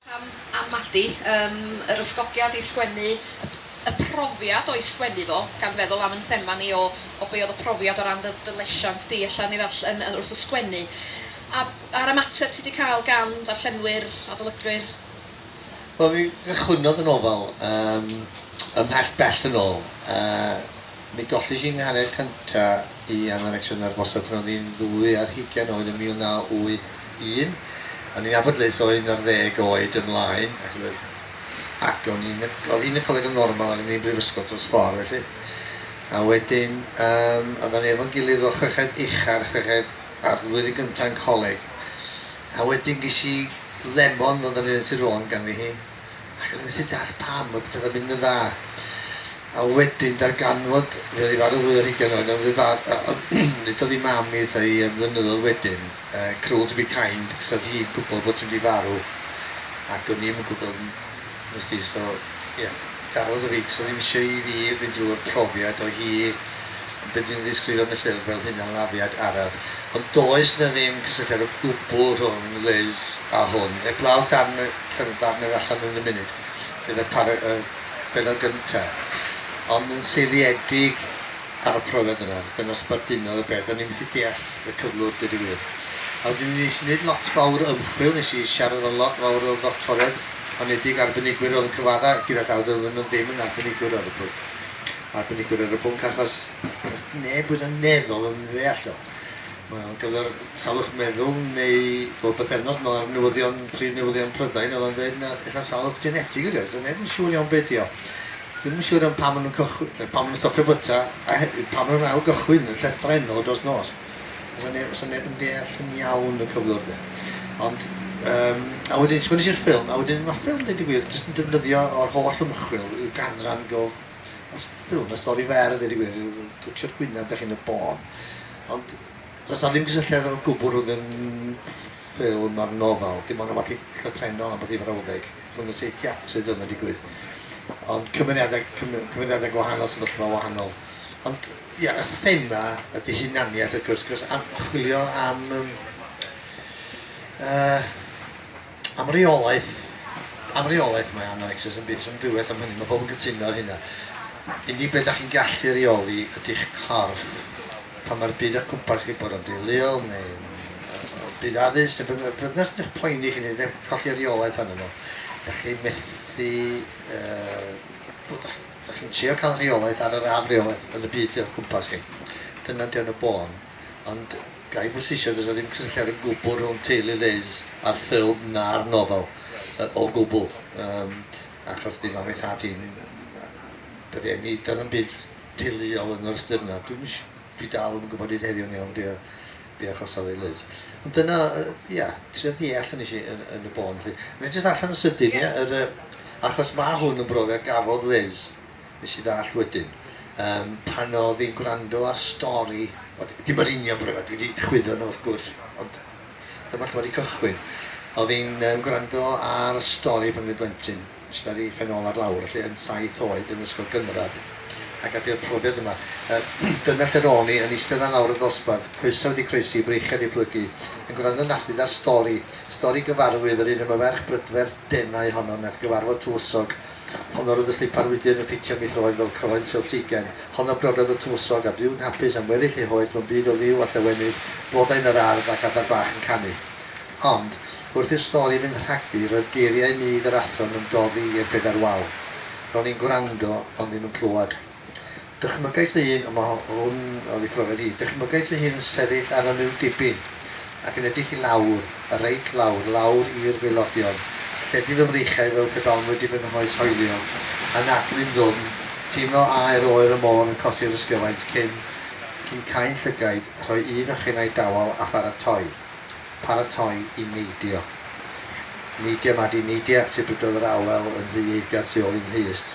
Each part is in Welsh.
Pam am Madi? Yym, yr ysgogiad i sgwennu, y y profiad o'i sgwennu fo, gan feddwl am 'yn thema ni o o be' oedd y profiad o ran dy dy lesiant di ella yn ei ddarll- yn yy wrth y sgwennu. A a'r ymateb ti 'di cael gan ddarllenwyr, adolygwyr? Wel mi gychwynnodd y nofel yym ymhell bell yn ôl yy Mi golli hi 'nghariad cynta' i anorecsia'n nerfosa pan oedd hi'n ddwy ar hugain oed yn 1981. O'n i'n nabod Liz o un ar ddeg oed ymlaen, ac oedd yn ac o'n i'n oedd hi'n y coleg yn normal ac o'n i'n brifysgol dros ffordd felly. A wedyn yym oeddan ni efo'n gilydd o chweched ucha ar chweched ar flwyddyn gynta yn coleg. A wedyn ges i lemon fel 'dan ni'n ddeud yn Sir Fôn ganddi hi. ac o'n i'n methu deall pam oedd pethau'n mynd yn dda. A wedyn darganfod fe oedd ei farw fwy o hugain oed, ond fe fa... nid oedd ei mam i ddeutha i am flynyddoedd wedyn, uh, cruel to be kind, cos oedd hi'n gwybod bod hi'n mynd i farw, ac o'n i'n gwybod, nes di, so, ie, yeah, garodd o fi, cos oedd ddim eisiau i fi fynd drwy'r profiad o hi be dwi'n ddisgrifio yn y llyfr fel hyn am afiad araf. Ond does na ddim cysylltiad o gwbl rhwng Liz a hwn, heblaw darn Cerdd fach newydd allan yn y munud, sef y para- y bennod gynta'. Ond yn seiliedig ar y profiad yna, dyna sbardunodd y peth. O'n i methu deall y cyflwr, deud y gwir. A wedyn nes i neud lot fawr o ymchwil, nes i siarad efo lot fawr o ddoctoriaid honedig, arbenigwyr o'dd yn cyfadda gyda llaw, doedden nw ddim yn arbenigwr ar y pwnc. Arbenigwr ar y pwnc achos does neb wed yn meddwl yn ddeall o. Mae o'n gyfer salwch meddwl neu bob pythefnos mae'r newyddion, prif newyddion Prydain oedd o'n dweud na eitha salwch genetig ydi o, so neb yn siŵr iawn be di o. Ddim yn siŵr iawn pam maen nhw'n cychwyn, pam maen nhw'n stopio byta a hefyd pam maen nhw'n ail gychwyn y llethren o dros nos. Os yna neb, os neb yn deall yn iawn y cyflwr de. Ond, um, a wedyn, sgwnes i'r ffilm, a wedyn mae ffilm, dweud y gwir, jyst yn defnyddio o'r holl ymchwil i'w ganran gof ffilm, y stori fer, dweud y gwir, twtio'r gwynaf, da chi'n y bôn. Ond does 'na ddim cysylltiad o gwbl rhwng y ffilm a'r nofel, dim ond rywbeth llythrennol am bod hi frawddeg rhwng y seiciatrydd yma digwydd. Ond cymeriadau cymeriadau gwahanol, sefyllfa wahanol. Ond ia, y thema ydy hunaniaeth wrth gwrs, cos am chwilio am uh, Am reolaeth, am reolaeth mae Analexis yn byd amddwywaith am hynny, mae pobl yn gytuno ar hynna. Unig beth da chi'n gallu reoli ydy'ch corff pan mae'r byd o'ch cwmpas chi'n bod o'n deuluol neu byd addysg neu beth bynnag sy'n eich poeni chi neu colli reolaeth arno fo. Da chi'n methu... Uh, da chi'n trio cael rheolaeth ar yr afreolaeth yn y byd o'ch cwmpas chi. Dyna di o'n y bôn. Ond ga i bwysleisio, does 'na ddim cysylltiad o gwbl rhwng teulu Liz a'r ffilm na'r nofel, o gwbl. Yym, achos dim am ei thad hi'n yr un, nid oedd yn byd teuluol yn yr ystyr yna. Dwi'm is- dwi dal ddim yn gwybod hyd heddiw yn iawn be o- be achosodd ei Liz. Ond dyna, yy, ia, trio ddeall yn nes i yn yn y bôn 'lly. Wna i jyst ddarllen yn sydyn, ia? Yr yy... Achos ma' hwn yn brofiad gafodd Liz. nes i ddallt wedyn, yym, pan oedd hi'n gwrando ar stori, wel, dim yr union bore 'ma, dwi 'di chwyddo nhw wrth gwrs, ond dyma lle mae 'di cychwyn. Oedd hi'n um, gwrando ar y stori pan oedd hi'n blentyn, sydd ar ei phen ôl ar lawr, felly yn saith oed yn ysgol gynradd, ac gath i'r profiad yma. Um, dyna lle ro'n i, yn eistedd ar lawr y ddosbarth, coesau wedi croesi, breichiau wedi plygu, yn gwrando nastud ar stori, stori gyfarwydd yr un am y ferch brydferth denau honno nath gyfarfod tywysog Honno roedd y slipar wydr yn ffitio mi throed fel croen seltigen. Honno briododd y tywysog, a byw'n hapus am weddill ei hoes mewn byd o liw a llawenydd, blodau yn yr ardd ac adar bach yn canu. Ond, wrth i'r stori fynd rhagddi, roedd geiriau mudd yr athro'n ymdoddi i'r bedair wal. Ro'n i'n gwrando, ond ddim yn clywed. Dychmygais fy hun, ond mae hwn oddi phrofiad i, dychmygais fy hun yn sefyll ar y liw dibyn ac yn edrych i lawr, reit lawr, lawr i'r waelodion, lledu fy mreichiau fel pe bawn wedi fy nghoes hoelio, anadlu'n ddwfn, teimlo aer oer y môr yn codi o'r ysgyfaint cyn, cyn cau'n llygaid, rhoi un o chinnau dawel a pharatoi. Paratoi i neidio. Neidia, Madi, neidia, sibrydodd yr awel yn rhy eiddgar tu ôl i'n nhyst.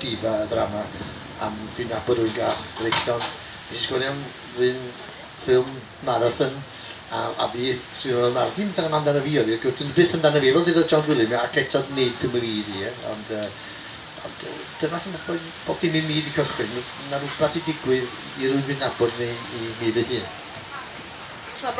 diva y ddrama am dwi'n nabod rwy'n gath freichiog nes i sgwennu am run ffilm marathon a, a fi sy'n rhoi marathon ddim tan am amdano fi oedd e gwtyn byth amdano fi fel ddyda John Gwilym ac eto nid yn wir i e ond, uh, ond uh, dyna sy'n bod bob dim i mi wedi cychwyn mae rhywbeth i digwydd i rwy'n fi'n nabod neu i mi fy hun